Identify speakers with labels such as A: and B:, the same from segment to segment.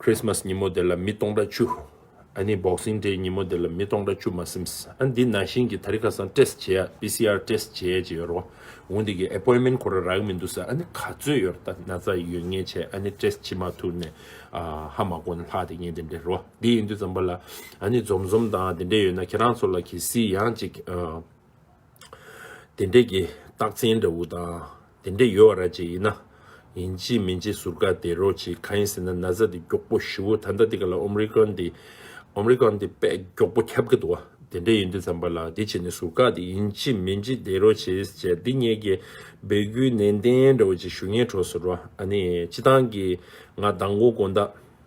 A: Christmas ཉིན་མོ་དེ་ལ་མི་སྟོང་ཕྲག་བཅུ། ཨ་ནི Boxing Day ཉིན་མོ་དེ་ལ་མི་སྟོང་ཕྲག་བཅུ་མ་སེམས། ཨ་འདི་ན་བཞིན་གྱི་ད་རི་ཁ་སང Test བྱེད་ཡ PCR Test བྱེད་ཡ་ཅིག་ཡོད་རུང་འོང་འདི་གི Appointment ཁོ་ར་རག་གི་མི་འདུག་ས་ཨ་ནི་ག་ཚོད་ཡོད་ར་ད་ན་ཚ་ཡོད་ངེས་བྱས་ཨ་ནི Test བྱེད་མ་ཐུག་ནས་ཧ་མ་གོ་ན་ལྷག་དེ་ངེས་དེ་འདྲས་རུང་འདི་ཡིན་དུས་ཙམ་པ་ལ་ཨ་ནི་འཛོམས་འཛོམས་དང་དེ་འདྲས་ཡོད་ན་ཁྱེད་རང་ཚོ་ལ་གི་སི་ཡང་ཅིག། དེ་འདྲས་ཀྱི་རྟགས་མཚན་འདྲ་བོ་དང་དེ་འདྲས་ཡོད་བ་ར་གཅིག་ཡིན་ན། ཡིན་གཅིག་མིན་གཅིག་ཟུར་བཀག་དེ་རོ་གཅིག་གང་ཡིན་ཟེར་ན་ན་ཚ་དེ་མགྱོགས་པོ་ཞི་བོ་ད་ལྟ་འདི་ག་ལ་ཨོམ་རི་ཀོན་དེ་ཨོམ་རི་ཀོན་དེ་དཔེ་མགྱོགས་པོ་ཁྱབ་ཀྱི་འདུག་བ་དེ་འདྲས་ཡིན་དུས་ཙམ་པ་ལ་དེ་བྱས་ནས་ཟུར་བཀག་དེ་ཡིན་གཅིག་མིན་གཅིག་དེ་རོ་བྱས་བྱས་འདི་གཉིས་ཀྱི་སྦས་རྒྱུའི་ནན་ཏན་འདྲ་བོ་གཅིག་ཞུ་ངེས་འཕྲོ་ཟུར་བ་ཨ་ནི་སྤྱི་བཏང་གི་ང་དང་མགོ་དགོན་བདག།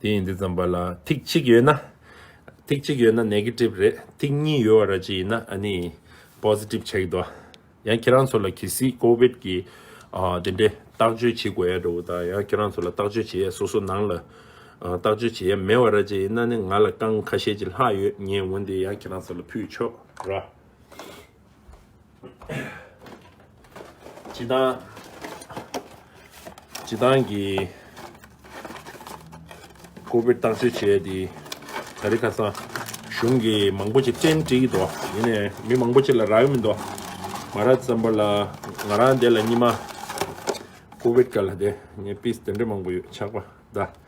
A: དེ་ཡིན་དེ་ཙམ་པ་ལ་ཐིག་གཅིག་ཡོད་ན། ཐིག་གཅིག་ཡོད་ན Negative རེད་ཐིག་གཉིས་ཡོད་བ་ར་ཅི་ཡིན་ན་ཨ་ནི Positive Check དོ། ཡང་ཁྱེད་རང་ཚོ་ལ་གལ་སྲིད COVID གི་དེ་འདྲའི་བརྟག་བཅོས་བྱེད་དགོས་ཡ་འདྲ་བོ་དང་ཡང་ཁྱེད་རང་ཚོ་ལ་བརྟག་བཅོས་བྱེད་ཡ་སོ་སོ་ནང་ལ་བརྟག་བཅོས་བྱེད་ཡ་མེད་བ་ར་ཅི་ཡིན་ན་ནི་ང་ལ་རྐང་ཁ་ཤས་ཅིག་ལྷག་ཡོད་ངས་འོན་ཏེ་ཡང་ཁྱེད་རང་ཚོ་ལ་ཕུལ་ཆོག་ར། ཇི་ལྟར་ཇི་ལྟར་གྱི་ཀོ་བོད་བཏང་སྲོལ་བྱས་དེ་ད་རེ་ཁ་སང་གཞུང་གི་མང་པོ་ཅིག་བསྟན་དྲི་ཡི་དོ་ཡིན་ནས་མི་མང་པོ་ཅིག་ལ་རག་གི་མི་འདུག་མ་རག་ཙམ་པ་ལ་ང་རང་དེ་ལ་གཉིས་མ་ཀོ་བོད་སྐད་ལ་དེ་ངས་པིས་དེ་འདྲ་མང་པོ་ཡོད་ཆགས་པ་གདའ།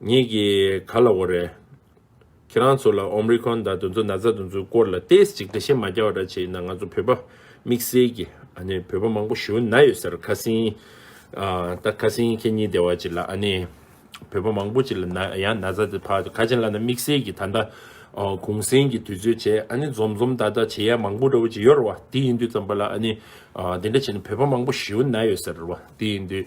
A: ངེད་ཀྱིས་ག་ལ་འོ་རེད། ཁྱེད་རང་ཚོ་ལ Omricron དང་དུ་ཚོད་ན་ཚ་དུ་ཚོད་སྐོར་ལ Test ཅིག་འདྲ་ཞིག་མ་རྒྱག་བ་འདྲ་བྱས་ན་ང་ཚོ་བོད་པ་དམིགས་བསལ་གྱི་ཨ་ནི་བོད་པ་མང་པོ་ཞུ་ན་ཡོད་ཟེར་ཁ་སིན། ད་ཁ་སིན་ཁྱེད་གཉིས་སྡེ་བ་ཅིག་ལ་ཨ་ནི་བོད་པ་མང་པོ་ཅིག་ལ་ན་ཡང་ན་ཚ་དེ་ཕ་དེ་ཁ་ཆེན་ལ་ན་དམིགས་བསལ་གྱི་ད་ལྟ་གུང་སེང་གི་དུས་ཚོད་བྱས་ཨ་ནི་འཛོམས་འཛོམས་ད་ད་བྱེད་ཡ་མང་པོ་འདྲ་བོ་ཅིག་ཡོད་རེད་བ་དེ་ཡིན་དུས་ཙམ་པ་ལ་ཨ་ནི་དེ་འདྲ་བྱས་ན་བོད་པ་མང་པོ་ཞུ་ན་ཡོད་ཟེར་བ་དེ་ཡིན་དུས།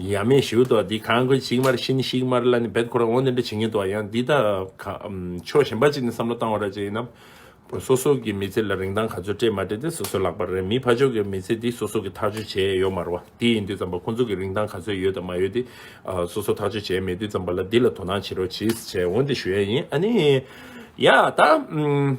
A: ཡ་མེད་ཞུ་དོ་འདི་གང་གི་ཅིག་མར་ཤིན་ཤིག་མར་ལ་ནི་བེད་ཁོ་རང་ངོ་འདི་འདྲ་བྱེད་ངེས་དོ་ཡང་འདི་དག་ཕྱོགས་གཞན་པ་ཅིག་ནས་བསམ་བློ་བཏང་བ་ར་ཅིག་ཡིན་ནམ། སོ་སོ་གི་མི་ཚེ་ལ་རིན་ཐང་ག་ཚོད་སྤྲད་མ་སྤྲད་དེ་སོ་སོའི་ལག་པར་རེད་མི་ཕ་ཕྱོགས་ཀྱི་མི་ཚེ་འདི་སོ་སོ་གི་ཐག་གཅོད་བྱས་ཡོད་མར་བ་དེ་ཡིན་དུས་ཙམ་པ་ཁོང་ཚོ་གི་རིན་ཐང་ག་ཚོད་ཡོད་དང་མ་ཡོད་དེ་སོ་སོ་ཐག་གཅོད་བྱས་མེད་དུས་ཙམ་པ་ལ་འདི་ལ་དོ་སྣང་བྱེད་རོགས་གྱིས་བྱས་འོང་དེ་ཞུ་ཡ་ཡིན་ཨ་ནི། ཡ་ད།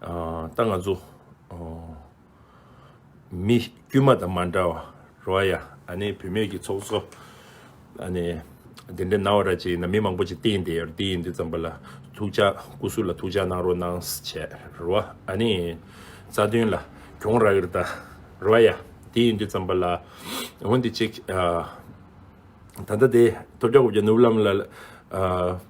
A: ད་ང་ཚོ་མི་དཀྱུས་མ་དང་མ་འདྲ་བ་རོ་ཨ་ཡ་ཨ་ནེ་བུད་མེད་ཀྱི་ཚོགས་གཙོ་ཨ་ནེ་དེ་འདྲ་ན་བ་ར་ཅིག་ཡིན་ན་མི་མང་པོ་ཅིག་བསྟེན་དེ་ཡོད་དེ་ཡིན་དུས་ཙམ་པ་ལ་ཐུགས་ཅག་སྐུ་སུ་ལ་ཐུགས་ཅག་གནང་རོགས་གནང་བྱས་རོ་ཨ་ཨ་ནེ་རྩ་དོན་ལ་གྱོང་རག་གིར་ད་རོ་ཨ་ཡ་དེ་ཡིན་དུས་ཙམ་པ་ལ་འོན་དེ་ཅིག་ད་ད་དེ་ཐོབ་བརྒྱ་གོ་བརྒྱ་ནུབ་ལམ་ལ་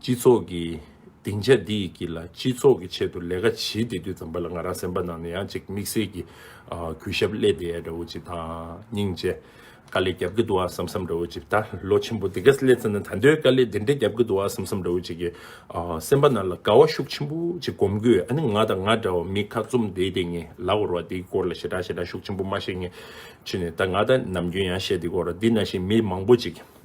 A: སྤྱི་ཚོགས་ཀྱི་སྡིངས་ཆ་འདི་ཡི་དཀྱིལ་ལ་སྤྱི་ཚོགས་ཀྱི་ཆེད་དུ་ལས་ཀ་བྱེད་དེ་དུས་ཙམ་པ་ལ་ང་རང་སེམས་པ་ནང་ནས་ཡང་གཅིག་དམིགས་བསལ་གྱི་གུས་ཞབས་སླེ་དེ་ཡ་འདྲ་བོ་ཅིག་དང་སྙིང་རྗེ། དཀའ་ལས་རྒྱབ་ཀྱི་འདུག་ཨ་བསམ་བསམ་འདྲ་བོ་ཅིག་ད་ལོ་ཆེན་པོ་འདི་ག་སླེ་ཚེ་ན་ད་འདོད་དཀའ་ལས་འདི་འདྲ་རྒྱབ་ཀྱི་འདུག་ཨ་བསམ་བསམ་འདྲ་བོ་ཅིག་གི་སེམས་པ་ནང་ལ་དགའ་བ་ཤུགས་ཆེན་པོ་ཅིག་སྒོམ་དགོས་ཨ་ནི་ང་དང་ང་འདྲ་བ་མི་ཁ་བཙུམ་བསྡད་དེ་ངའི་ལག་འོར་བ་འདིའི་སྐོར་ལ་ཞེ་དྲག་ཞེ་དྲག་ཤུགས་ཆེན་པོ་མ་བཤད་ངས་ཕྱི་ནས་ད་ང་ད་ནམ་རྒྱུན་ཡང་བཤད་འདི་སྐོར་འདི་ན་བཞིན་མི་མང་པོ་ཅིག་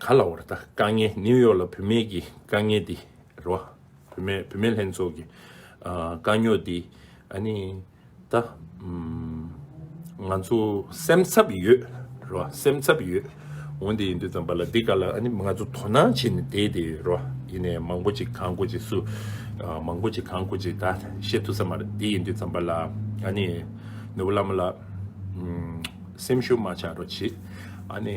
A: ག་ལ་བར་ད་དཀའ་ངལ་ནིའུ་ཡོག་ལ་བུད་མེད་ཀྱི་དཀའ་ངལ་དེ་རེད་བ། བུད་མེད་བུད་མེད་ལྷན་ཚོགས་ཀྱི་དཀའ་རྙོག་དེ་ཨ་ནི་ད་ང་ཚོ་སེམས་འཚབ་ཡོད་རེད་བ་སེམས་འཚབ་ཡོད་འོན་དེ་ཡིན་དུས་ཙམ་པ་ལ་འདི་ག་ལ་ཨ་ནི་ང་ཚོ་དོ་སྣང་བྱེད་ནས་བསྡད་དེ་ཡོད་རེད་བ་ཡིན་ནའི་མང་པོ་ཅིག་གང་དགོས་ཅིག་སུ་མང་པོ་ཅིག་གང་དགོས་ཅིག་ད་བཤད་ཐུབ་ས་མ་རེད་དེ་ཡིན་དུས་ཙམ་པ་ལ་ཨ་ནི་ནུ་བོ་བླ་མ་ལགས་སེམས་ཤུགས་མ་ཆག་རོགས་བྱེད་ཨ་ནི།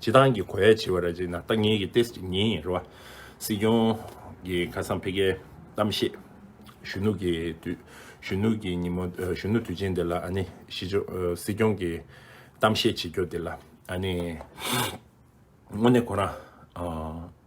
A: སྤྱི་བཏང་གི་གོ་ཡ་བྱེད་པ་ར་བྱེད་ན་ལྟ་ངན་གྱི་ཏེ་སྤྱི་ངན་ཡིན་ར་བ། སྲིད་སྐྱོང་གི་ཁ་སང་ཕེ་ཁའི་གཏམ་བཤད་གཞོན་ནུ་གི་དུས་གཞོན་ནུ་གི་ཉིན་མོ་གཞོན་ནུ་དུས་ཆེན་དེ་ལ་ཨ་ནི་སྲིད་སྐྱོང་གི་གཏམ་བཤད་བྱེད་རྒྱོ་དེ་ལ་ཨ་ནི་དངོས་གནས་ཁོ་རང་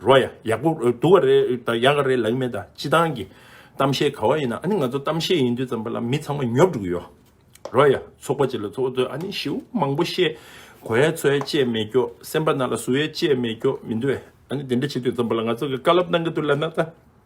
A: རོ་ཡ་ཡག་པོ་འདུག་ག་རེད་ད་ཡག་ག་རེད་ལགས་མེད་ད་སྤྱི་སྟངས་ཀྱི་གཏམ་བཤད་ག་བ་ཡིན་ན་ཨ་ནི་ང་ཚོ་གཏམ་བཤད་ཡིན་དུས་ཙམ་པ་ལ་མི་ཚང་མ་ཉོབ་འགྲོ་གི་ཡོད་རོ་ཡ་ཚོགས་པ་བྱེད་ལ་ཚོགས་ཚོད་ཨ་ནི་ཞེའུ་མང་པོ་བཤད་གོ་ཡ་ཚོ་ཡ་བཅད་མེད་ཀྱོ་སེམས་པ་ན་ལ་ཟུག་ཡ་བཅད་མེད་ཀྱོ་མི་འདུག་ཨ་ནི་དེ་འདྲ་བྱེད་དུས་ཙམ་པ་ལ་ང་ཚོ་གི་བཀའ་སློབ་གནང་གི་འདུག་ལ་ན་ད།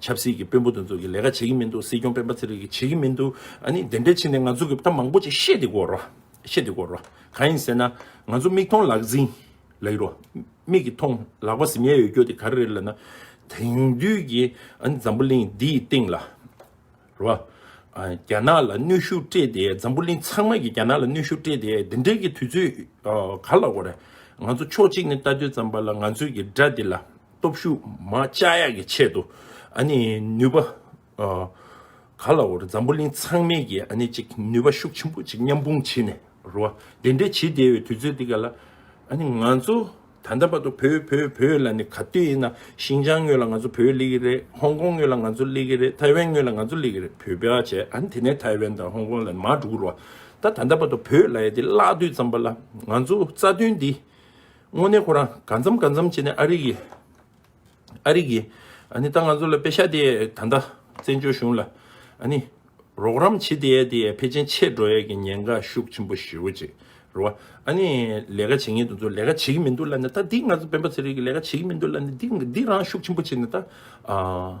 A: ཆབ་སྲིད་ཀྱི་དཔོན་པོ་དེ་ཚོ་གི་ལས་ཀ་བྱེད་ཀྱི་མི་འདུག་སྲིད་སྐྱོང་སྤེན་པ་ཚེ་རིང་གི་བྱེད་ཀྱི་མི་འདུག་ཨ་ནི་དེ་འདྲའི་ཕྱིན་ནས་ང་ཚོ་གི་ད་མང་པོ་ཅིག་བཤད་དེ་གོ་རོགས་བཤད་དེ་གོ་རོགས་གང་ཡིན་ཟེར་ན་ང་ཚོ་མིག་མཐོང་ལག་ཟིན་ལགས་རོ་མིག་གི་མཐོང་ལག་པ་ཟིན་ཡས་ཡོད་རྒྱུ་དེ་ག་རེ་རེད་ལ་ན་དེང་དུས་ཀྱི་ཨ་ནི་འཛམ་བུ་གླིང་འདི་ཡི་སྟེང་ལ་རོ་རྒྱ་ནག་ལ་གནོད་ཤུགས་སྤྲད་དེ་འཛམ་བུ་གླིང་ཚང་མ་གི་རྒྱ་ནག་ལ་གནོད་ཤུགས་སྤྲད་དེ་དེ་འདྲའི་གི་དུས་ཚོད་ག་ལ་གོ་རེད་ང་ཚོ་ཕྱོགས་གཅིག་ནས་ལྟ་དུས་ཙམ་པ་ལ་ང་ཚོས་གི་དགྲ་དེ་ལ། སྟོབས་ཤུགས་མ་བཅའ་ཡག་གི་ཆེད་དུ་ཨ་ནི་ནུས་པ། ག་ལ་བོར་འཛམ་བུ་གླིང་ཚང་མའི་གི་ཨ་ནི་ཅིག་ནུས་པ་ཤུགས་ཆེན་པོ་ཅིག་མཉམ་སྤུངས་བྱེད་ནས་རུ་བ་དེ་འདྲའི་བྱེད་བསྡད་བའི་དུས་ཚོད་འདི་ག་ལ། ཨ་ནི་ང་ཚོ་ད་ལྟ་བར་དུ་བོད་བོད་བོད་ལ་ནི་ག་དུས་ཡིན་ན་ཤིང་ཅང་ངོས་ལ་ང་ཚོ་བོད་གླེ་གི་རེད་ཧོང་ཀོང་ངོས་ལ་ང་ཚོ་གླེ་གི་རེད་ཐའི་ཝན་ངོས་ལ་ང་ཚོ་གླེ་གི་རེད་བོད་བེད་བྱས་ཨ་ནི་དེ་ནས་ཐའི་ཝན་དང་ཧོང་ཀོང་ལ་ནི་མ་འགྲོ་གི་རུ་བ་ད་ད་ལྟ་བར་དུ་བོད་ལ་ཡ་དེ་བརླག་དུས་ཙམ་པ་ལ་ང་ཚོ་རྩ་དོན་འདི་དངོས་གནས་ཁོ་རང་གང་འཚམ་གང་འཚམ་བྱས་ནས་ཨ་རིག་གི། ཨ་རིག་གི། ཨ་ནི་ད་ང་ཚོ་ལ་དཔེ་ཤ་དེ་ད་ལྟ་བཙན་བྱོལ་གཞུང་ལ། ཨ་ནི། རོགས་རམ་བྱེད་དེ་ཡས་དེ་ཡས་ཕལ་ཆེན་ཆད་འགྲོ་ཡས་ཀྱི་ཉེན་ཁ་ཤུགས་ཆེན་པོ་ཞི་རུ་བྱེད་རུ་བ། ཨ་ནི། ལས་ཀ་བྱེད་ངེས་དུ་ཚོ་ལས་ཀ་བྱེད་ཀྱི་མི་འདུག་ལ་ནི་ད་འདི་ང་ཚོ་སྤེན་པ་ཚེ་རིང་གི་ལས་ཀ་བྱེད་ཀྱི་མི་འདུག་ལ་ནི་འདི་འདི་རང་ཤུགས་ཆེན་པོ་བྱས་ནས་ད་ཨ།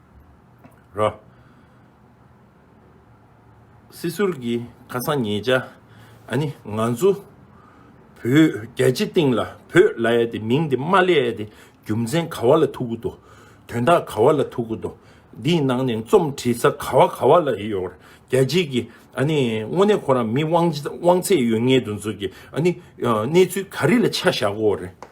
A: རོ། སྲིད་ཟུར་གྱི་ཁ་སང་ངེད་ཅག་ཨ་ནི་ང་ཚོ་བོད་རྒྱ་སྤྱི་སྟེང་ལ་བོད་ལ་ཡ་དེ་མིང་དེ་མ་ལས་ཡ་དེ་རྒྱུ་མཚན་ག་བ་ལ་ཐུག་གི་འདུག་དོན་དག་ག་བ་ལ་ཐུག་གི་འདུག་འདིའི་ནང་ནས་རྩོམ་བྲིས་ས་ག་བ་ག་བ་ལ་ཡོད་རྒྱ་སྤྱི་གི་ཨ་ནི་དངོས་གནས་ཁོ་རང་མི་དབང་ཚད་ཡོད་ངེས་དུ་འཛུགས་ཀྱི་ཨ་ནི་གནས་ཚུལ་ག་རི་ལ་ཆ་བཞག་གོ་རེད།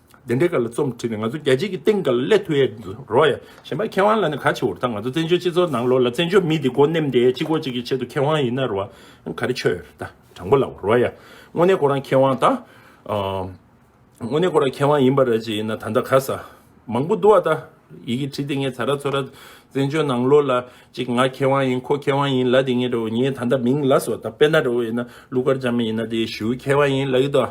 A: དེ་འདྲའི་སྐོར་ལ་རྩོམ་བྲིས་ནས་ང་ཚོ་རྒྱལ་སྤྱིའི་སྟེང་གི་ཀླད་ཐུལ་ཡས་འདུག་རོགས་ཡ། གཞན་པ་མཁས་དབང་ལ་ནི་ག་ཆེ་བོར་ད་ང་ཚོ་བཙན་བྱོལ་སྤྱི་ཚོགས་ནང་ལོགས་ལ་བཙན་བྱོལ་མི་དེ་སྒོ་ནེམ་དེ་གཅིག་གོ་གཅིག་གི་ཆེད་དུ་མཁས་དབང་ཡིན་ན་རོགས་ཡ། ག་རེ་ཆོས་ཡོད་རེད་ད་དྲང་པོ་ལབ་བོ་རོགས་ཡ། དངོས་གནས་ཁོ་རང་མཁས་དབང་ད། དངོས་གནས་ཁོ་རང་མཁས་དབང་ཡིན་པ་རེད་ཅེས་ཡིན་ན་ད་ད་ག་ས། མང་པོ་འདུག་བ་ད། ཡི་གེ་བྲིས་དེ་ངས་ཚ་ར་ཚོ་ར། བཙན་བྱོལ་ནང་ལོགས་ལ་ཅིག་ང་མཁས་དབང་ཡིན་ཁོ་མཁས་དབང་ཡིན་ལ་དེ་ངས་རོགས་ངས་ད་ད་མིང་ལ་སོ་ད་དཔེ་ན་རོགས་ཡིན་ན་ཀླུ་མཁར་བྱམས་ཡིན་ན་དེ་ཞུའི་མཁས་དབང་ཡིན་ལ་ཡི་ད།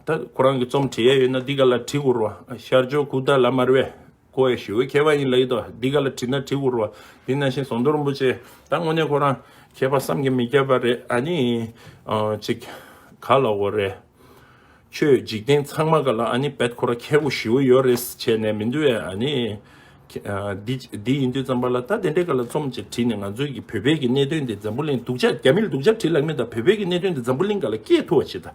A: ད་ཁོ་རང་གི་རྩོམ་བྲི་ཡས་ཡོད་ན་འདི་ག་ལ་བྲི་འུར་བ་ཤར་ཕྱོགས་ཁུག་རྟ་ལ་མར་བས་ཁོ་བའི་ཞུ་བའི་མཁས་པ་ཡིན་ལ་ཡིད་དོ་འདི་ག་ལ་བྲིས་ན་བྲི་འུར་བ་དེ་ན་བཞིན་ཟོང་དོར་རིན་པོ་ཆེ་ད་དངོས་གནས་ཁོ་རང་མཁས་པ་བསམ་གྱི་མི་ཁྱབ་པ་རེད་ཨ་ནི་ཅིག་ག་ལ་འོ་རེད་ཁྱོད་འཇིག་རྟེན་ཚང་མ་ག་ལ་ཨ་ནི་བད་ཁོ་ར་མཁས་པོ་ཞི་བོ་ཡོད་རེད་བྱས་ནས་མི་འདུ་བས་ཨ་ནི་འདི་ཡིན་དུས་བརྩམས་པ་ལ་ད་དེ་འདྲའི་ག་ལ་རྩོམ་ཅིག་བྲིས་ནས་ང་ཚོའི་གི་བོད་པའི་གི་གནད་དདོན་འདི་འཛམ་བུ་གླིང་སྡུག་ཅག་རྒྱ་མིལ་སྡུག་ཅག་བྲིས་ལགས་མེད་ད་བོད་པའི་གི་གནད་དདོན་འདི་འཛམ་བུ་གླིང་ག་ལ་སྐྱེས་ཐུ་བ་བྱེད་ད།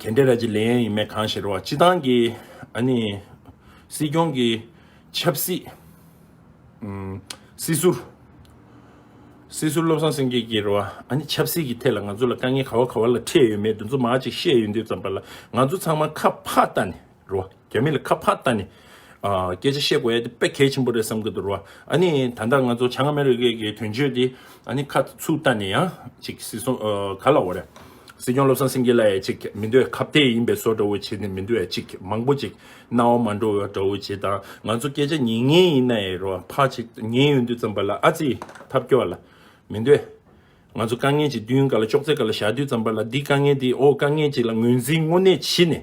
A: གན་དྷེ་ར་ཇི་ལེ་ཡན་ཡིན་མེད་གང་ཞིག་རེད་བ་སྤྱི་བཏང་གི་ཨ་ནི་སྲིད་སྐྱོང་གི་ཆབ་སྲིད་སྲིད་ཟུར། སྲིད་ཟུར་བློ་བཟང་སེང་གེ་ཀྱིས་རེད་བ་ཨ་ནི་ཆབ་སྲིད་ཀྱི་ཐད་ལ་ང་ཚོ་ལ་དཀའ་ངལ་ག་བ་ག་བ་ལ་འཕྲད་ཡོད་མེད་དུ་འཛུ་མ་ཅིག་བཤད་ཡོད་འདུག་ཙམ་པ་ལ་ང་ཚོ་ཚང་མ་ཁ་ཕག་ལྟ་ནས་རེད། རྒྱ་མི་ལ་ཁ་ཕག་ལྟ་ནས་སྐད་ཆ་བཤད་དགོས་ཡ་དེ་དཔེ་གལ་ཆེན་པོ་རེད་བསམ་གི་འདུག་རེད། ཨ་ནི་ད་ལྟ་ང་ཚོ་བྱང་ཨ་མེ་རི་ཁའི་གི་དོན་གཅོད་དེ་ཨ་ནི་ཁ་ཚུགས་ལྟ་ནས་ཡང་ཅིག་སྲིད་སྲུང་ག་ལ་འོ་རེད། སྲིད་སྐྱོང་བློ་བཟང་སེང་གེ་ལ་ཡ་ཅིག་མི་འདོད་ཁ་བརྡའི་ཡིན་པའི་སོ་འདྲ་བོ་བྱེད་ནས་མི་འདོད་ཡ་ཅིག་མང་པོ་ཅིག་རྣ་བ་མ་འགྲོ་བའི་འདྲ་བོ་བྱེད་དང་ང་ཚོ་སྐད་ཆ་ཉན་ངེས་ཡིན་ན་ཡ་རེད་ཕག་ཅིག་ཉན་ཡོང་དུས་ཙམ་པ་ལ་ཨ་ཙི་ཐབས་སྐྱོ་བ་ལ་མི་འདོད། ང་ཚོ་དཀའ་ངལ་གྱི་མདུན་ག་ལ་ཅོག་ཙེ་ག་ལ་བཞག་དུས་ཙམ་པ་ལ་འདི་དཀའ་ངལ་འདི་ཨོ་དཀའ་ངལ་ཅིག་ལ་ངོས་འཛིན་དངོས་གནས་བྱེད་ནས་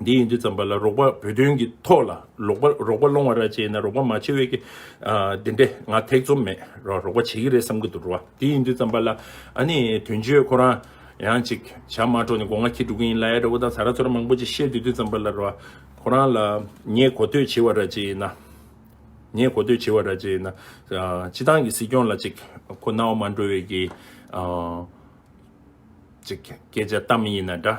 A: འདི་ཡིན་དུས་ཙམ་པ་ལ་རོགས་པ་བོད་དོན་གྱི་ཐོག་ལ་རོགས་པ་རོགས་པ་སློང་བ་ར་བྱེད་ན་རོགས་པ་མ་བྱེད་འོས་ཀི། འདི་འདྲས་ང་ཐེག་ཚོམ་མེད་རོགས་པ་བྱེད་ཀི་རེད་བསམ་གི་འདུག་འགྲོ་བ་འདི་ཡིན་དུས་ཙམ་པ་ལ་ཨ་ནི་དོན་གཅོད་ཁོ་རང་ཡང་ཅིག་བྱ་མ་འགྲོ་ནི་སྒོ་ང་ཁྱི་འགྲོ་གི་ཡིན་ལ་ཨེ་ར་བོ་དང་ཟ་ར་ཚོ་ར་མང་པོ་ཅིག་བཤད་འདུག་དུས་ཙམ་པ་ལ་རོགས་པ་ཁོ་རང་ལ་ངས་གོ་ཐོས་བྱེད་བ་ར་བྱེད་ན། ངས་གོ་ཐོས་བྱེད་བ་ར་བྱེད་ན། སྤྱི་བཏང་གི་སྲིད་སྐྱོང་ལ་ཅིག་ཁོ་ན་བ་མ་འགྲོ་འོས་ཀི། ཅིག་སྐད་ཆ་གཏམ་ཡིན་ན་འདྲ།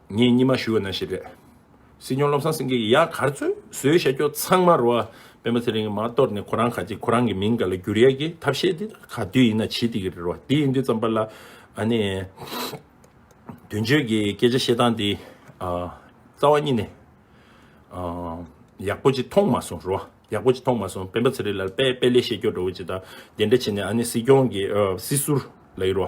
A: ངས་སྙིང་མ་ཞུ་བ་ན་ཞེས་པའི། སྲིད་སྐྱོང་བློ་བཟང་སེང་གེ་ཡིས་ཡག་གར་ཚོས་བཟོས་བྱ་རྒྱུ་ཚང་མ་རོ། སྤེན་པ་ཚེ་རིང་གིས་མ་གཏོར་ནས་ཁོ་རང་ག་ཅིག་ཁོ་རང་གི་མིང་ག་ལ་བསྒྱུར་ཡག་གི་ཐབས་ཤེས་དེ་ག་དུས་ཡིན་ན་བྱེད་དེ་གི་རེད་རོ། དེ་ཡིན་དུས་ཙམ་པ་ལ་ཨ་ནི། དོན་གཅོད་ཀྱི་སྐད་ཆ་བཤད་སྟངས་དེ། རྩ་བ་གཉིས་ནས། ཡག་པོ་ཅིག་མཐོང་མ་སོང་རོ། ཡག་པོ་ཅིག་མཐོང་མ་སོང་སྤེན་པ་ཚེ་རིང་ལ་དཔེ་དཔེ་ལས་བཤད་རྒྱུ་འགྲོ་བོ་ཅིག་དང་དེ་འདྲ་བྱས་ནས་ཨ་ནི་སྲིད་སྐྱོང་གི་སྲིད་ཟུར་ལ་ཡིན་རོ།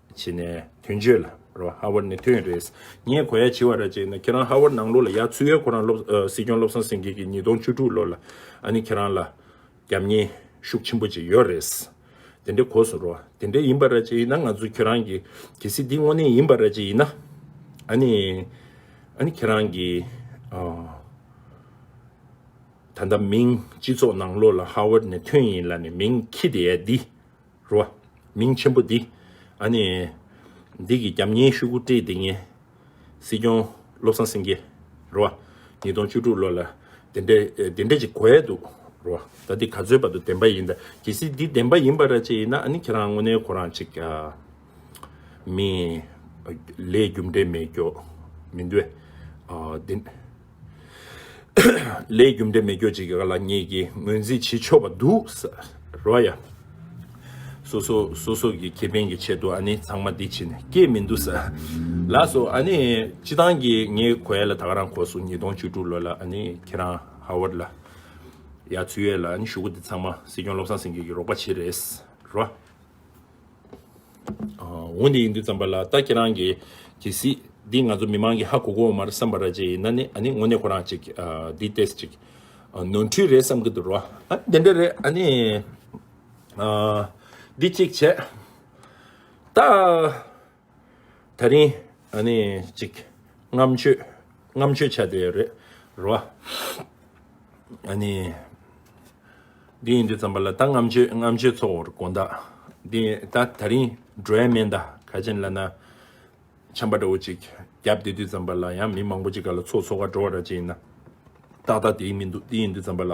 A: བྱས་ནས་དོན་བརྗོད་ལ་རོ། ཧ་བོར་ནི་དོན་རེད། ངས་གོ་ཡ་བྱིས་བ་ར་བྱས་ན་ཁྱེད་རང་ཧ་བོར་ནང་ལོགས་ལ་ཡ་ཚུད་ཡ་ཁོ་རང་སློབ་སྲིད་སྐྱོང་བློ་བཟང་སེང་གེ་གི་ཉིས་སྟོང་བཅུ་དྲུག་ལོ་ལ་ཨ་ནི་ཁྱེད་རང་ལ་རྒྱབ་གཉེས་ཤུགས་ཆེན་པོ་ཅིག་ཡོད་རེད། དེ་འདྲའི་གོ་སོང་རོ། དེ་འདྲའི་ཡིན་པ་ར་བྱས་ཡིན་ན་ང་ཚོ་ཁྱེད་རང་གི་གལ་སྲིད་འདི་དངོས་གནས་ཡིན་པ་ར་བྱས་ཡིན་ན་ཨ་ནི་ཨ་ནི་ཁྱེད་རང་གི་ད་ལྟ་མིང་སྤྱི་ཚོགས་ནང་ལོགས་ལ་ཧ་བོར་ནི་དོན་ཡིན་ལ་ནི་མིང་ཁྱི་དེ་ཡ་འདི། རུ་བ། མིང་ཆེན་པོ་འདི། ཨ་ནི། འདི་གི་རྒྱབ་གཉེར་ཤུགས་བཀོད་བཀྲིས་བདེ་ངན། སྲིད་སྐྱོང། བློ་བཟང་སེང་གེ། རུ་བ། ཉིས་སྟོང་བཅུ་དྲུག་ལོ་ལ། དེ་འདྲ། དེ་འདྲ་ཅིག་གོ་ཡས་འདུག། རུ་བ། ད་འདི་ག་ཚོད་བར་དུ་བདེན་པ་ཡིན་ད། གལ་སྲིད་འདི་བདེན་པ་ཡིན་པ་ར་ཅིག་ཡིན་ན་ཨ་ནི་ཁྱེད་རང་དངོས་གནས་གོ་རང་ཅིག། མི། ལས་རྒྱུ་འབྲས་མེད་སྐྱོ། མི་འདུས། འདི། ལས་རྒྱུ་འབྲས་མི་སྐྱོ་ཅིག་ག་ལ་ངེད་ཀྱིས་ངོས་འཛིན་བྱེད་ཆོག་པ་འདུག་རོ་ཡ། སོ་སོ་སོ་སོ་གི་ཁེ་ཕན་གྱི་ཆེད་དུ་ཨ་ནི་ཚང་མ་འདི་ཕྱི་ནས་སྐྱེས་མི་འདུག་ལགས་སོ་ཨ་ནི་སྤྱི་བཏང་གི་ངའི་གོ་ཡ་ལ་ད་ག་རང་གོ་སོ་ཉིས་སྟོང་བཅུ་དྲུག་ལོ་ལ་ཨ་ནི་ཁྱེད་རང་ཧ་ཝར་ལ་ཡ་ཚུད་ཡོད་ལ་ཨ་ནི་ཞུ་གོ་འདི་ཚང་མ་སྲིད་སྐྱོང་བློ་བཟང་སེང་གེ་གི་རོགས་པ་ཕྱིར་རེད་རོ། འོན་ཏེ་ཡིན་དུས་བརྩམས་པ་ལ་ད་ཁྱེད་རང་གིས་གྱིས་སྲིད། འདི་ང་ཚོ་མི་མང་གིས་ཧ་གོ་གོ་འོ་མར་བསམ་པ་ར་ཅི་ཡིན་ན་ནི་ཨ་ནི་དངོས་གནས་ཁོ་རང་ཅིག་འདི་ལྟས་ཅིག་ནོར་འཁྲུལ་རེད་བསམ་གྱི་འདུག་རོ། ཨ་འདི་འདྲ་རེད་ཨ་ནི། འདི་གཅིག་བྱས། ད། ད་རིང་ཨ་ནི་ཅིག་རྔམ་སྤྱོད་རྔམ་སྤྱོད་བྱ་དེ་རེད་རོ། ཨ་ནི། དེ་ཡིན་དུས་ཙམ་པ་ལ་ད་རྔམ་སྤྱོད་རྔམ་སྤྱོད་ཚོགས་བོར་དགོན་ད། དེ་ད་ད་རིང་འགྲོའི་སྨན་ད་ག་ཅན་ལ་ན། ཆམ་པ་འདྲ་བོ་ཅིག་རྒྱབ་དེ་དུས་ཙམ་པ་ལ་ཡང་མི་མང་པོ་ཅིག་ག་ལ་ཚོགས་ཚོགས་ཀ་འགྲོ་བ་འདྲ་ཅིག་ཡིན་ན། ཏག་ཏག་དེ་ཡིན་མི་འདུག་དེ་ཡིན་དུས་ཙམ་པ་ལ།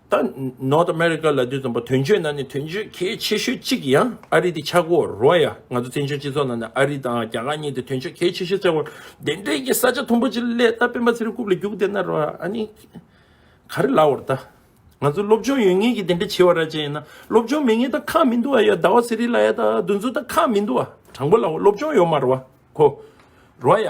A: ད North America ལ་དུས་རྩོམ་པ་དོན་གཅོད་ནང་ནས་དོན་གཅོད་གལ་ཆེ་ཤོས་གཅིག་ཡང་ཨ་རི་དེ་ཆགས་སྒོ་རོལ་ཡ་ང་ཚོ་བཙན་བྱོལ་སྤྱི་ཚོགས་ནང་ནས་ཨ་རི་དང་རྒྱ་གར་གཉིས་དེ་དོན་གཅོད་གལ་ཆེ་ཤོས་བཙལ་བར་དེ་འདྲའི་ཀྱི་ས་ཆ་དུམ་བུ་ཅིག་སླད་ད་སྤེན་པ་ཚེ་རིང་རྐུབ་ལ་རྒྱུག་བསྡད་ན་རོལ་ཨ་ནི་ག་རེ་ལགས་བར་ད་ང་ཚོ་སློབ་སྦྱོང་ཡོད་ངེས་ཀྱི་དེ་འདྲ་བྱེད་བ་ར་ཅན་ཡིན་ན་སློབ་སྦྱོང་མེད་ངེས་ད་ཁག་མི་འདུག་ཨ་ཡ་ཟླ་བ་ཟེ་རི་ལ་ཡ་ད་རྡུལ་མཚོ་ད་ཁག་མི་འདུག་ཨ་དྲང་པོ་ལགས་བ་སློབ་སྦྱོང་ཡོད་མ་རོལ་བ་གོ་རོལ་ཡ་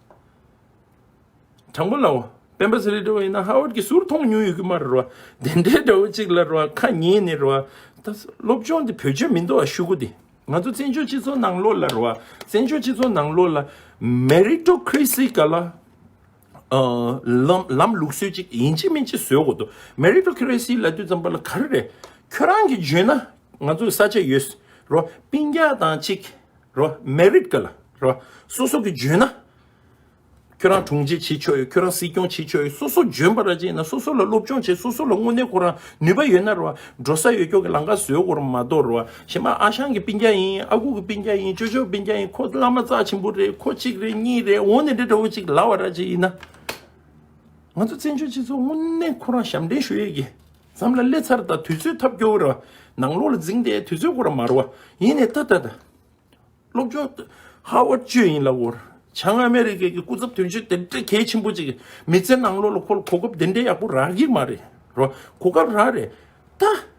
A: དྲང་པོ་ལའོ། སྤེན་པ་ཚེ་རིང་འདྲ་བོ་ཡིན་ན་ཧ་ཝར་གྱི་ཟུར་མཐོང་ཉུང་ཡོད་ཀྱི་མ་རེད་རོ། དེ་འདྲའི་འདྲ་བོ་གཅིག་ལ་རོ་ཁ་ཉིན་ནི་རོ། ད་སློབ་སྦྱོང་འདི་བོད་ཆོས་མིན་འདུག་ཨ་ཤུ་གུ་འདི། ང་ཚོ་བཙན་བྱོལ་སྤྱི་ཚོགས་ནང་ལོགས་ལ་རོ། བཙན་བྱོལ་སྤྱི་ཚོགས་ནང་ལོགས་ལ། Meritocracy ག་ལ། ལམ་ལུགས་སྲོལ་ཅིག་ཡིན་ཅི་མིན་ཅི་བཟོས་དགོས་འདུག Meritocracy ལ་དུས་ཙམ་པ་ལ་ག་རེ་རེད། ཁྱོད་རང་གིས་བརྗོད་ན། ང་ཚོ་ས་ཆ་ཡོད། རོ། པིན་རྒྱག་དང་གཅིག། རོ། མེ་རིས་བཀོད་ལ་རོ། སོ་སོ་གི་འཇོན་ན། ཁྱོད་རང་དྲུང་ཆེ་བྱེད་ཆོག་ཡོད་ཁྱོད་རང་སྲིད་སྐྱོང་བྱེད་ཆོག་ཡོད་སོ་སོ་འཇོན་པ་ར་བྱེད་ན་སོ་སོ་ལ་སློབ་སྦྱོང་བྱེད་སོ་སོ་ལ་དངོས་གནས་ཁོ་རང་ནུས་པ་ཡོད་ན་རོ། འགྲོ་ས་ཡོད་སྐྱོ་གི་ལང་ཀ་བཟོས་དགོ་རུ་མ་གཏོགས་རོ། ཞེ་མ་ཨ་ཞང་གི་སྤིན་རྒྱ་ཡིན་ཨ་ཁུ་གི་སྤིན་རྒྱ་ཡིན་ཅོ་ཅོ་སྤིན་རྒྱ་ཡིན་ཁོ་བླ་མ་རྩ་ཆེན་པོ་རེད་ཁོ་གཅིག་རེད་གཉིས་རེད་འོ་ནི་རེད་འདྲ་བོ་གཅིག་ལ་བ་ར་བྱེད་ཡིན་ན། ང་ཚོ་བཙན་བྱོལ་སྤྱི་ཚོགས་དངོས་གནས་ཁོ་རང་ཞབས་འདྲེན་ཞུ་ཡོད་ཀྱི་མཚམས་ལ་སླེ་ཚར་ད་དུས་ཚོད་ཐབས་སྐྱོ་བོ་རེད་བ། ནང་ལོག་ལ་འཛིང་སྟེ་དུས་ཚོད་སྐོར་ར་མ་རོ་བ། ཡིན་ནས་ད་ད་ད། སློབ་སྦྱོང། ཧ་བ་ཅོ་ཡིན་ལ་བོར། བྱ་ང་ཨ་མེ་རི་ཀའི་གི་སྐུ་ཚབ་དོན་གཅོད་དེ་འདྲ་གལ་ཆེན་པོ་ཅིག་གི་མི་ཚེ་ནང་ལོག་ལ་ཁོ་ལ་གོ་སྐབས་དེ་འདྲའི་ཡག་པོ་རག་གི་མ་རེད་རོ། གོ་སྐབས་རག་རེད་ད།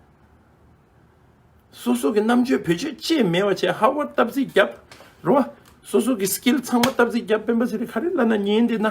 A: སོ་སོ་གི་རྣམ་དཔྱོད་བེད་སྤྱོད་ཅེས་མེད་བ་བྱས་ཧ་བ་སྟབས་རྩིས་རྒྱབ་རོ་བ། སོ་སོ་གི skill ཚང་མ་སྟབས་རྩིས་རྒྱབ་སྤེན་པ་ཟེར་རི་ཁ་རི་བླ་ན་ཉེ་འདི་ན།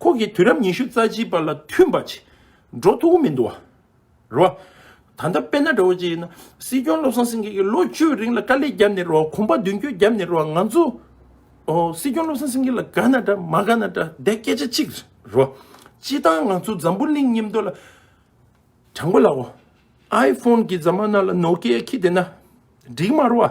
A: ཁོང་གིས་དུས་རབས་ཉི་ཤུ་རྩ་གཅིག་པ་ལ་མཐུན་པ་བྱེད་འགྲོ་ཐུག་མི་འདུག་རོ། ད་ལྟ་དཔལ་ནཱ་གྲོ་བྱེད་ཡིན་ན་སྲིད་སྐྱོང་བློ་བཟང་སེང་གེ་གིས་ལོ་བཅུའི་རིང་ལ་དཀའ་ལས་བརྒྱབ་ནས་རོགས་གོམ་པ་མདུན་བསྐྱོད་བརྒྱབ་ནས་རོགས་ང་ཚོ་སྲིད་སྐྱོང་བློ་བཟང་སེང་གེ་ལ་དགའ་ན་འདྲ་མ་དགའ་ན་འདྲ་དེ་སྐད་ཆ་གཅིག་རོ། སྤྱི་བཏང་ང་ཚོ་འཛམ་བུ་གླིང་སྙེམས་དོ་ལ་དྲང་པོ་ལའོ། Iphone གི་རྫ་མ་ནང་ལ Nokia ཁྱི་བསྡད་ན་འགྲིག་མ་རོ།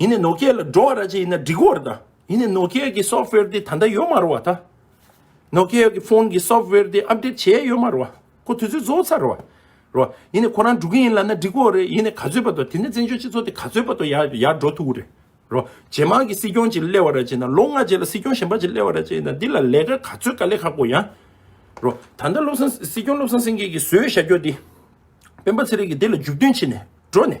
A: ཡིན་ནའི་ནོ་ཀེ་ལ་འགྲོ་བ་ར་ཅི་ཡིན་ན་འགྲིག་བོར་ད་ཡིན་ནའི་ནོ་ཀེ་གི་སོབ་ཝེར་དེ་ད་ལྟ་ཡོད་མ་རོ་བ་ད་ནོ་ཀེ་གི་ཕོན་གི་སོབ་ཝེར་དེ་ཨབ་དེད་བྱས་ཡོད་མ་རོ་བ་ཁོ་དུས་ཚོད་བཟོ་ཚར་བ་རོ་ཡིན་ནའི་ཁོ་རང་འགྲོ་གི་ཡིན་ལ་ན་འགྲིག་བོ་རེད་ཡིན་ནའི་ག་ཚོད་པ་ད་དེ་ནས་བཙན་བྱོལ་སྤྱི་ཚོགས་དེ་ག་ཚོད་པ་ད་ཡར་ཡར་འགྲོ་ཐུབ་བོ་རེད་རོ་ཇེ་མང་གི་སྲིད་སྐྱོང་ཅིག་སླེ་བ་ར་ཅི་ཡིན་ན་ལོ་ལྔ་རྗེས་ལ་སྲིད་སྐྱོང་གཞན་པ་ཅིག་སླེ་བ་ར་ཅི་ཡིན་ན་འདི་ལ་ལས་ཀ་ག་ཚོད་ག་ལས་ཁག་པོ་ཡང་རོ་ད་ལྟ་བློ་བཟང་སྲིད་སྐྱོང་བློ་བཟང་སེང་གེ་གི་བཟོས་བྱ་རྒྱོ་དེ་སྤེན་པ་ཚེ་རིང་གི་དེ་ལ་འཇུག་དོན་ཕྱི་ནས་འགྲོ་ནས་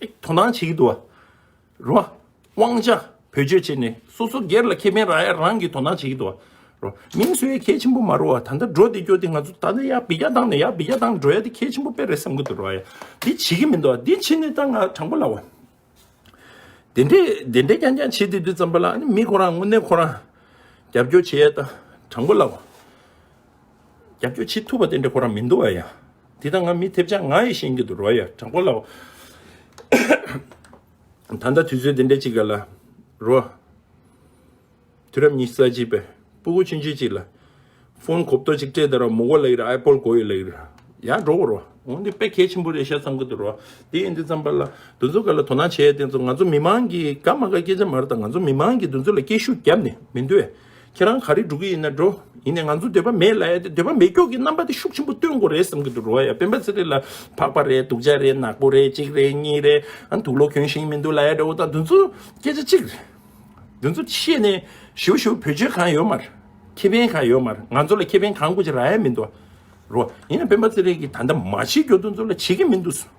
A: དོ་སྣང་བྱེད་ཀྱི་འདུག་རོ། དབང་ཆ་བེད་སྤྱོད་བྱས་ནས་སོ་སོ་སྒེར་ལ་ཁེ་ཕན་རག་ཡ་རང་གིས་དོ་སྣང་བྱེད་ཀྱི་འདུག་རོ། མིང་སུ་ཡི་གལ་ཆེན་པོ་མ་རུ་བ་ད་ལྟ་འགྲོ་དེ་སྐྱོ་དེ་ང་ཚོ་ད་ལྟ་ཡར་བི་རྒྱ་བཏང་ནས་ཡར་བི་རྒྱ་བཏང་འགྲོ་ཡ་དེ་གལ་ཆེན་པོ་དཔེ་རེད་བསམ་གྱི་འདུག་རོ། ཡ་དེ་བྱེད་ཀྱི་མི་འདུག་དེ་བྱེད་ནས་ད་ང་དྲང་པོ་ལབ་བ། དེ་འདྲས་དེ་འདྲས་ཀྱང་ཀྱང་བྱེད་དེ་དུས་ཙམ་པ་ལ་ཨ་ནི་མི་ཁོ་རང་དངོས་གནས་ཁོ་རང་རྒྱབ་སྐྱོར་བྱེད་ཡ་ད་དྲང་པོ་ལབ་བ། རྒྱབ་སྐྱོར་བྱེད་ཐུབ་པ་དེ་འདྲ་ཁོ་རང་མི་འདུག་ཨ་ཡ། འདི་ད་ང་མི་ཐེབས་ཆག་ང་ཡི་ཤེས་ཀྱི་འདུག་རོ་ཡ་དྲ་འཁོར་ལའོ། ད་ལྟ་དུས་ཚོད་འདི་འདྲ་ཅིག་ལ་རོ། དུས་རབས་ཉི་ས་གཅིག་པའི་སྤུ་གུ་ཆུན་ཆུན་ཅིག་ལ། ཕོན་གོབ་ཏོ་ཅིག་སྤྲད་ད་རོ་མུ་གོ་ལ་ཡི་ར་ཨའི་པོལ་གོ་ཡི་ལ་ཡི་ར། ཡ་འགྲོ་གོ་རོ། འོ་འདི་དཔེ་གལ་ཆེན་པོ་རེད་ཤ་བསམ་གི་འདུག་རོ། དེ་ཡིན་དུས་བརྩམས་པ་ལ་འདུ་འཛོ་ག་ལ་དོ་སྣང་བྱེད་ཡ་དེ་ཚོ་ང་ཚོ་མི་མང་གིས་དགའ་མ་དགའ་སྐད་ཆ་མར་ད་ང་ཚོ་མི་མང་གིས་འདུ་འཛོ་ལ་སྐད་ཤུགས་རྒྱབ་ནས་མི་འདུ་ཡ། ཁྱེད་རང་ག་རེ་འགྲོ་གི་ཡིན་ན་འགྲོ། ཡིན་ནས་ང་ཚོ་འདོད་པ་མེད་ལ་ཡ་དེ་འདོད་པ་མེད་སྐྱོག་གི་རྣམ་པ་དེ་ཤུགས་ཆེན་པོ་སྟོན་དགོས་རེད་བསམ་གྱི་འདུག་འགྲོ་བ་ཡ་སྤེན་པ་ཚེ་རིང་ལ་ཕག་པ་རེད་སྡུག་ཅག་རེད་ནག་པོ་རེད་གཅིག་རེད་གཉིས་རེད་དུག་ལོག་གྱོན་ཞིང་མི་འདུག་ལ་ཡ་འདྲ་བོ་དང་དེ་ཚོ་སྐད་ཆ་གཅིག་རེད། དེ་ཚོ་ཤེས་ནས་ཞུ་ཞུ་བོད་ཆོལ་གང་ཡོད་མར། ཁེ་ཕན་གང་ཡོད་མར་ང་ཚོ་ལ་ཁེ་ཕན་གང་དགོས་ཅི་ར་ཡ་མི་འདུག་རོ། ཡིན་ན་སྤེན་པ་ཚེ་རིང་གིས་ད་ལྟ་མ་བྱེད་རྒྱུ་དེ་ཚོ་ལ་བྱེད་ཀྱི་མི་འདུག།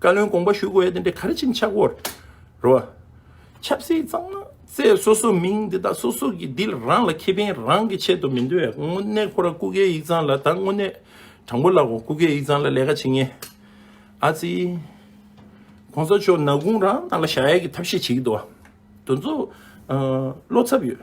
A: བཀའ་བློན་དགོངས་པ་ཞུ་དགོས་དེ་འདྲའི་གར་ཆེན་ཆག་སྒོ་རུ། ཆབ་སྲིད་གཙང་མ་བརྩད་སོ་སོ་མིང་འདི་དག་སོ་སོ་གི་འདིལ་རང་ལ་ཁེ་ཕན་རང་གི་ཆེད་དུ་མི་འདོད་དངོས་གནས་ཁོ་རང་སྐུ་སྒེར་ཡིག་ཚང་ལ་ད་དངོས་གནས་དྲང་པོ་ལབ་བོ་སྐུ་སྒེར་ཡིག་ཚང་ལ་ལས་ཀ་བྱེད་ངེས་ཨ་ཙི། གོང་ས་མཆོག་ནག་དགུང་རང་ནང་ལ་བཞག་ཡ་གི་ཐབས་ཤེས་བྱེད་ཀྱི་འདུག་བ་དོན་ཚོ་བློ་འཚབ་ཡོད།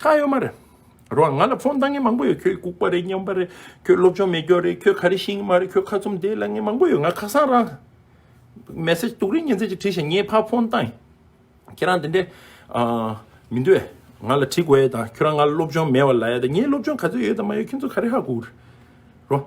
A: ཁ་ཡོད་མ་རེད། རོགས་ང་ལ་ཕོན་བཏང་མཁན་མང་པོ་ཡོད་ཁྱོད་ལྐུག་པ་རེད་སྙོམས་པ་རེད་ཁྱོད་སློབ་སྦྱོང་མེད་སྐྱོ་རེད་ཁྱོད་ཁ་རི་ཤི་ཡི་མ་རེད་ཁྱོད་ཁ་ཚུམ་བདེ་ལ་ངན་མང་པོ་ཡོད་ང་ཁ་སང་རང Message དུག་རིགས་ཉན་ཚད་ཅིག་བྲིས་ཤིང་ངས་ཕར་ཕོན་བཏང་ཁྱེད་རང་དེ་འདྲའི་མི་འདོད་ང་ལ་བྲིས་དགོས་ཡས་དང་ཁྱོད་རང་ང་ལ་སློབ་སྦྱོང་མེད་བ་ལ་ཡས་དང་ངས་སློབ་སྦྱོང་ག་ཚོད་ཡོད་དང་མ་ཡོད་ཁྱོད་ཚོ་ཁ་རི་ཧ་གུག་རོགས།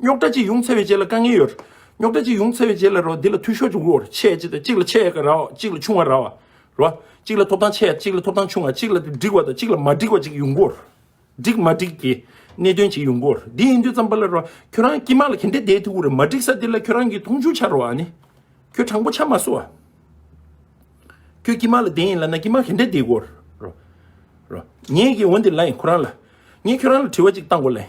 A: རྙོག་དྲ་གཅིག་ཡོང་ཚེ་བའི་རྗེས་ལ་དཀའ་ངལ་ཡོད། རྙོག་དྲ་གཅིག་ཡོང་ཚེ་བའི་རྗེས་ལ་རོ་འདི་ལ་འཐུས་ཤོར་འབྱུང་གི་འོར་ཆད་ཅིག་དང་གཅིག་ལ་ཆད་ཀ་རའོ་གཅིག་ལ་ཆུང་བ་རའོ། རོ། གཅིག་ལ་ཐོབ་ཐང་ཆད་གཅིག་ལ་ཐོབ་ཐང་ཆུང་བ་གཅིག་ལ་འགྲིག་བ་དང་གཅིག་ལ་མ་འགྲིག་བ་ཅིག་ཡོང་གི་འོར། འགྲིག་མ་འགྲིག་གི་གནད་དོན་ཅིག་ཡོང་གི་འོར་འདི་ཡིན་དུས་ཙམ་པ་ལ་རོ། ཁྱོད་རང་སྐྱིད་མ་ལ་གན་དེ་དེའི་ཐུགས་རེ་མ་འགྲིག་ས་དེ་ལ་ཁྱོད་རང་གིས་མཐོང་ཆུང་བྱ་རོ་ཨ་ནི། ཁྱོད་དྲང་པོ་ཆ་མ་བཟོ་ཨ། ཁྱོད་སྐྱིད་མ་ལ་དེ་ཡིན་ལ་ན་སྐྱིད་མ་གན་དེ་དེའི་འོར་རོ། རོ། ངས་ཀྱིས་འོན་ཏེ་ལ་ཡིན་ཁོ་རང་ལ། ངས་ཁྱོད་རང་ལ་དྲི་བ་ཅིག་བཏང་གོ་ལན།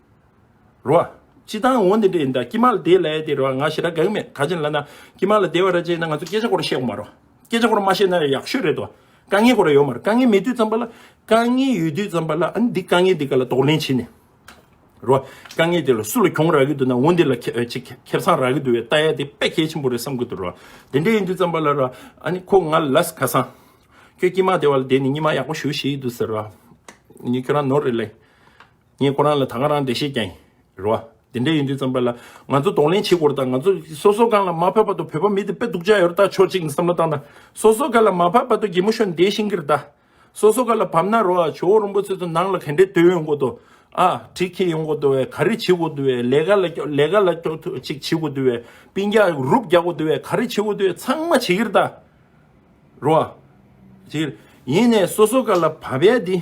A: རོ། ཅི་དང་འོ་འདི་འདྲ་ཡིན་ད་ཀྱི་མ་ལ་དེ་ལས་དེ་རོ་ང་ཞེ་དྲག་དགག་མེད་ག་ཅན་ལ་ན་ཀྱི་མ་ལ་དེ་བ་ར་ཅན་ན་ང་ཚོ་སྐད་ཆ་སྐོར་བཤད་གོ་མ་རོ་སྐད་ཆ་སྐོར་མ་བཤད་ན་ཡག་ཤོས་རེད་དོ་དཀའ་ངལ་སྐོར་ར་ཡོད་མ་རེད་དཀའ་ངལ་མེད་དུས་ཙམ་པ་ལ་དཀའ་ངལ་ཡོད་དུས་ཙམ་པ་ལ་ཨ་ནི་འདི་དཀའ་ངལ་འདི་ག་ལ་དོགས་ལན་བྱེད་ནི་རོ་དཀའ་ངལ་དེ་ལ་སུ་ལ་གྱོང་རག་གི་འདུག་ན་འོ་འདི་ལ་ཁྱེད་ཅིག་ཁྱེར་སང་རག་གི་འདུག་བས་ལྟ་ཡ་དེ་དཔེ་གལ་ཆེན་པོ་རེད་བསམ་གི་འདུག་རོ་དེ་འདྲ་ཡིན་དུས་ཙམ་པ་ལ་ར་ཨ་ནི་ཁོ་ང་ལ་ལས་ཁ་སང་ཁྱོད་ཀྱི་མ་དེ་བ་ལ་དེ་ནི་ཉི་མ་ཡག་པོ་ཞུ་བྱེད་ཡི་འདུག་ཟེར་ར་ཨ་ནི་ཁྱོད་རང་ནོར་རེད་ལེ། ངས་ཁོ་རང་ལ་ད་སྔ་རང་བདེ་གཤེགས་ཀྱང་རེད་བ། དེ་འདྲ་ཡིན་དུས་བརྩམས་པ་ལ་ང་ཚོ་གདོང་ལེན་བྱེད་དགོས་རེད་དང་ང་ཚོ་སོ་སོ་གང་ལ་མ་ཕབ་པ་དོ་བོད་པ་མི་དེ་དཔེ་སྡུག་ཅག་ཡོད་རེད་ད་ཆོག་ཅིག་ནས་བསམ་བློ་བཏང་ད་སོ་སོ་ག་ལ་མ་ཕབ་པ་དོ་རྒྱལ་མོ་ཤོ་འདས་ཤིང་གི་རེད་ད་སོ་སོ་ག་ལ་ཕབ་ན་རོགས་ཨ་ཇོ་བོ་རོང་པོ་ཚོས་དོ་ནང་ལ་ག་འདྲའི་དོད་ཡོད་དགོས་དོ་ཨ་དྲི་ཁེ་ཡོད་དགོས་དོ་བས་ག་རེ་བྱེད་དགོས་དོ་བས་ལས་ག་ལ་ཀྱོག་ལས་ག་ལ་ཀྱོག་ཐུག་ཅིག་བྱེད་དགོས་དོ་བས་པིན་རྒྱག་རུབ་རྒྱག་དགོས་དོ་བས་ག་རེ་བྱེད་དགོས་དོ་བས་ཚང་མ་བྱེད་གི་རེད་ད་རོགས་ཨ། ཡིན་ནས་སོ་སོ་ག་ལ་ཕབ་པའི་དེ།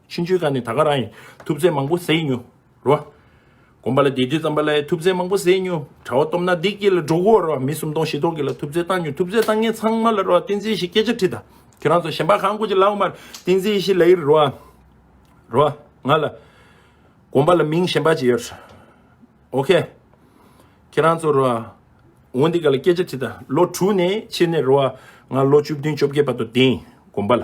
A: ཕྱིན་ཆོས་ཀ་ནས་ད་ག་རང་ཡིན། ཐུབ་ཚད་མང་པོ་བཟས་མྱོ། རོ། དགོན་པ་ལ་དེ་དུས་ཙམ་པ་ལ་ཡ་ཐུབ་ཚད་མང་པོ་བཟས་མྱོ། གྲྭ་བ་སྟོབས་ན་དེ་སྐྱེས་ལ་འགྲོ་གོ། རོ། མི་སུམ་སྟོང་བཞི་སྟོང་གི་ལ་ཐུབ་ཚད་བཏང་མྱོ། ཐུབ་ཚད་བཏང་མཁན་ཚང་མ་ལ་རོ། བསྟན་འཛིན་བཞི་སྐད་ཆ་ཁྲིད་ད། ཁྱོད་རང་ཚོ་གཞན་པ་གང་དགོས་ཀྱི་ལ་འོ་མ། བསྟན་འཛིན་བཞི་ལ་ཡིར་རོ། རོ། ང་ལ། དགོན་པ་ལ་མིང་གཞན་པ་ཅི་ཡོད། ཨོ་ཁེ། ཁྱེད་རང་ཚོ་རོ། འོ་འདི་ག་ལ་སྐད་ཆ་ཁྲིད་ད། ལོ་དྲུག་ནས་ཕྱི་ནས་རོ། ང་ལོ་བཅུ་བདུན་བཅོ་བརྒྱད་པ་དུ་བསྟན། དགོན་པ་ལ།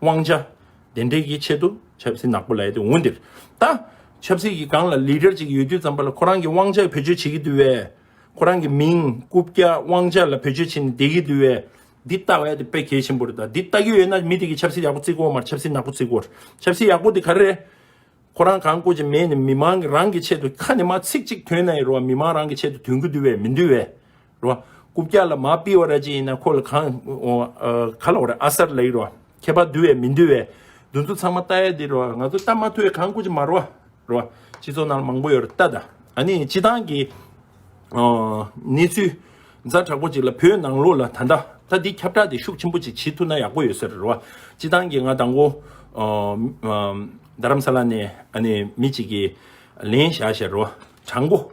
A: དབང་ཆ་དེ་འདྲས་ཀྱི་ཆེད་དུ་ཆབ་སྲིད་ནག་པོ་ལས་དེ་འོན་འདིར་ད། ཆབ་སྲིད་ཀྱི་སྒང་ལ Leader གཅིག་ཡོད་རྒྱུ་ཙམ་པ་ལ་ཁོ་རང་གི་དབང་ཆ་བེད་སྤྱོད་བྱེད་ཀྱི་འདུག་བས། ཁོ་རང་གི་མིང་རྐུབ་བཀྱག་དབང་ཆ་ལ་བེད་སྤྱོད་བྱེད་ནས་བསྡད་ཀྱི་འདུག་བས། འདི་ལྟ་བས་དེ་དཔེ་གལ་ཆེན་པོ་རེད་ད། འདི་ལྟ་གི་ཡོད་ན་མི་དེ་གི་ཆབ་སྲིད་ཡག་པོ་བརྩི་དགོས་མར་ཆབ་སྲིད་ནག་པོ་བརྩི་དགོས། ཆབ་སྲིད་ཡག་པོ་དེ་ག་རེ་རེད། ཁོ་རང་གང་དཀོད་ཅིག་མེད་ནས་མི་མང་གི་རང་གི་ཆེད་དུ་ཁ་ནས་མ་ཚིག་གཅིག་ཐོན་ནའི་རེ་བ་མི་མང་རང་གི་ཆེད་དུ་དོན་གྱི་འདུག་བས་མི་འདུག་བས། རོ། སྐུ་བཀྱག་ལ་མ་པི་བ་ར་ཅི་ཡིན་ན་ཁོ་ལ་གང། ག་ལོག་ར་ཨ་སར་ལ་ཡི་རོ། ཁྱད་པར་འདུལ་བའི་མི་འདུལ་བའི། འདུལ་ཚུལ་ཚང་མ་ལྟ་ཡ་འདི་རོ། ང་ཚོ་ལྟ་མ་ཐུ་བའི་གང་སྐུ་ཅི་མ་རོ། རོ། སྤྱི་ཚོགས་ནང་ལ་མང་པོ་ཡོད་ར་ལྟ་ད། ཨ་ནི་སྤྱི་བཏང་གི། གནས་ཚུལ། མཛའ་དྲག་པོ་ཅིག་ལ་བོད་ནང་ལོགས་ལ་ད་ལྟ། ད་འདི་ཁྱབ་བསྒྲགས་དེ་ཤུགས་ཆེན་པོ་ཅིག་བྱེད་ཐུ་ན་ཡག་པོ་ཡོད་ས་རེད་རོ། སྤྱི་བཏང་གི་ང་དང་བོ། རྡ་རམ་ས་ལ་ནས་ཨ་ནི་མི་ཅིག་གིས། ལན་བཞག་ཞེ་རོ། དྲང་པོ།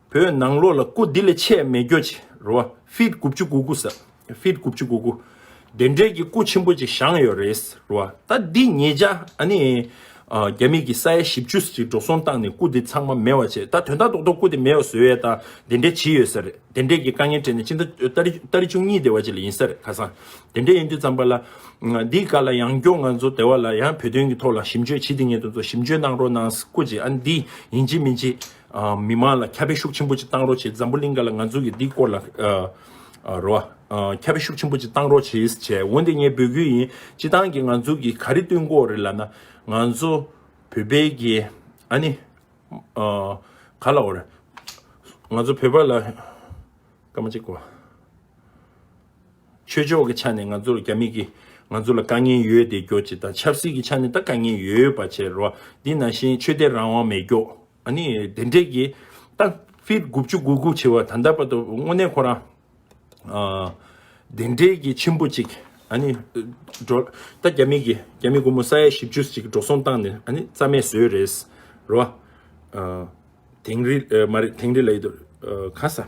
A: བོད་ནང་ལོགས་ལ་སྐུ་འདི་ལས་ཆད་མེད་གྱོད་ཅི་རོ་བ་ཕིད་དགུ་བཅུ་དགུ་དགུ་ཟེར་ཕིད་དགུ་བཅུ་དགུ་དགུ། དེ་འདྲས་ཀྱི་སྐུ་ཆེན་པོ་ཅིག་བཞེངས་ཡོད་རེད་རོ་བ་ད་འདི་ཉེས་ཆ་ཨ་ནི། རྒྱ་མིས་ཀྱི་ས་ཡ་བཞི་བཅུ་ཟིག་འགྲོ་སོང་བཏང་ནས་སྐུ་འདི་ཚང་མ་མེད་བ་བྱས་ད་དོན་དག་རྡོག་རྡོག་སྐུ་དེ་མེད་བ་བཟོས་ཡོད་དང་དེ་འདྲས་བྱས་ཡོད་ས་རེད་དེ་འདྲས་ཀྱི་དཀའ་ངལ་འཕྲད་ནས་ཕྱི་ཟླ་ལྟར་བཅུ་གཉིས་དེ་བ་ཅིག་ལ་ཡིན་ས་རེད་ཁ་སང་དེ་འདྲས་ཡིན་དུས་ཙམ་པ་ལ། འདིའི་བཀའ་ལ་ཡང་སྐྱོང་ང་ཚོ་དེ་བ་ལ་ཡང་བོད་དོན་གྱི་ཐོག་ལ་ཞིབ་འཇོད་བྱེད་དེ་ཉེ་དོན་ཚོ་ཞིབ་འཇོད་གནང་རོགས་གནང་སྐུ་ཅིག་ཨ་ནི་འདི་ཡིན་གྱི་མིན་གྱི། མི་མང་ལ་ཁྱབ་པའི་ཤུགས་ཆེན་པོ་ཅིག་བཏང་རོགས་བྱེད་འཛམ་བུ་གླིང་འགའ་ལ་ང་ཚོ་གིས་འདི་སྐོར་ལ་རོགས། ཁྱབ་པའི་ཤུགས་ཆེན་པོ་ཅིག་བཏང་རོགས་བྱེད་བྱས་འོན་ཏེ་ངས་འབོད་སྐུལ་ཡིན་སྤྱི་བཏང་གིས་ང་ཚོ་གིས་ག་རེ་བཏོན་སྐོར་རེ་ལབ་ན་ང་ཚོ་བོད་པའི་གི་ཨ་ནི། ག་ལ་འོ་རེད། ང་ཚོ་བོད་པ་ལ་སྐར་མ་གཅིག་གོ། ཆོས་ཕྱོགས་ཀྱི་ཆ་ནས་ང་ཚོར་རྒྱ་མི་གིས་ང་ཚོ་ལ་དཀའ་ངལ་ཡོད་དེ་སྐྱོ་ཅི་དང་ཆབ་སྲིད་ཀྱི་ཆ་ནས་ད་དཀའ་ངལ་ཡོད་པ་བྱེད་རོགས་འདི་ན་བཞིན་ཆོས་དད་རང་དབང་མེད་སྐྱོ་ཨ་ནི་དེ་འདྲས་ཀྱི་ད་ཕིར་དགུ་བཅུ་དགུ་དགུ་བྱེད་བ་ད་ལྟ་བར་དུ་དངོས་གནས་ཁོ་རང་དེ་འདྲས་ཀྱི་ཆེན་པོ་ཅིག་ཨ་ནི་འགྲོ་ད་རྒྱ་མི་གིས་རྒྱ་མི་དགུ་མོ་ས་ཡ་བཞི་བཅུ་ཅིག་འགྲོ་སོང་བཏང་ནས་ཨ་ནི་རྩ་མེད་བཟོས་རེད་རོགས་དེང་རི་མ་རེད་དེང་རི་ལ་ཡོད་དོ་ག་ས།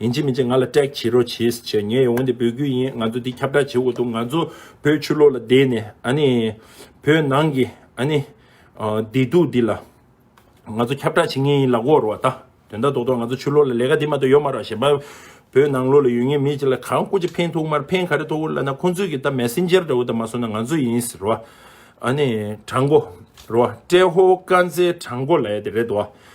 A: ཡིན་གཅིག་མིན་གཅིག་ང་ལ་སྐྲག་བྱེད་རོགས་བྱས་ཟེར་ངས་ཡང་འོན་ཏེ་འབོད་སྐུལ་ཡིན་ང་ཚོ་འདི་ཁྱབ་བསྒྲགས་བྱེད་དགོས་འདུག་ང་ཚོ་བོད་ཆུ་ལོག་ལ་བསྡད་ནས་ཨ་ནི། བོད་ནང་གི་ཨ་ནི། བདེ་སྡུག་འདི་ལ། ང་ཚོ་ཁྱབ་བསྒྲགས་བྱེད་ངེས་ཡིན་ལ་བསྒོ་རོགས་ད། དོན་དག་རྡོག་རྡོག་ང་ཚོ་ཆུ་ལོག་ལ་ལས་ཀ་འདི་མ་གཏོགས་ཡོད་མ་རོགས་གཞན་པ། བོད་ནང་ལོག་ལ་ཡོད་ངེས་མི་གཅིག་ལ་གང་སྐུ་ཅི་ཕན་ཐུག་མར་ཕན་ག་རེ་ཐོག་བོད་ལ་ན་ཁོང་ཚོས་ཀྱི་ད་མེ་སི་འཇར་འདྲ་བོ་ད་མ་སོང་ན་ང་ཚོ་ཡིན་ཟེར་བ། ཨ་ནི། དྲང་པོ། རོ། ཏྲེ་ཧོ་དཀར་མཛེས་དྲང་པོ་ལ་ཡ་དེ་རེད་དོ།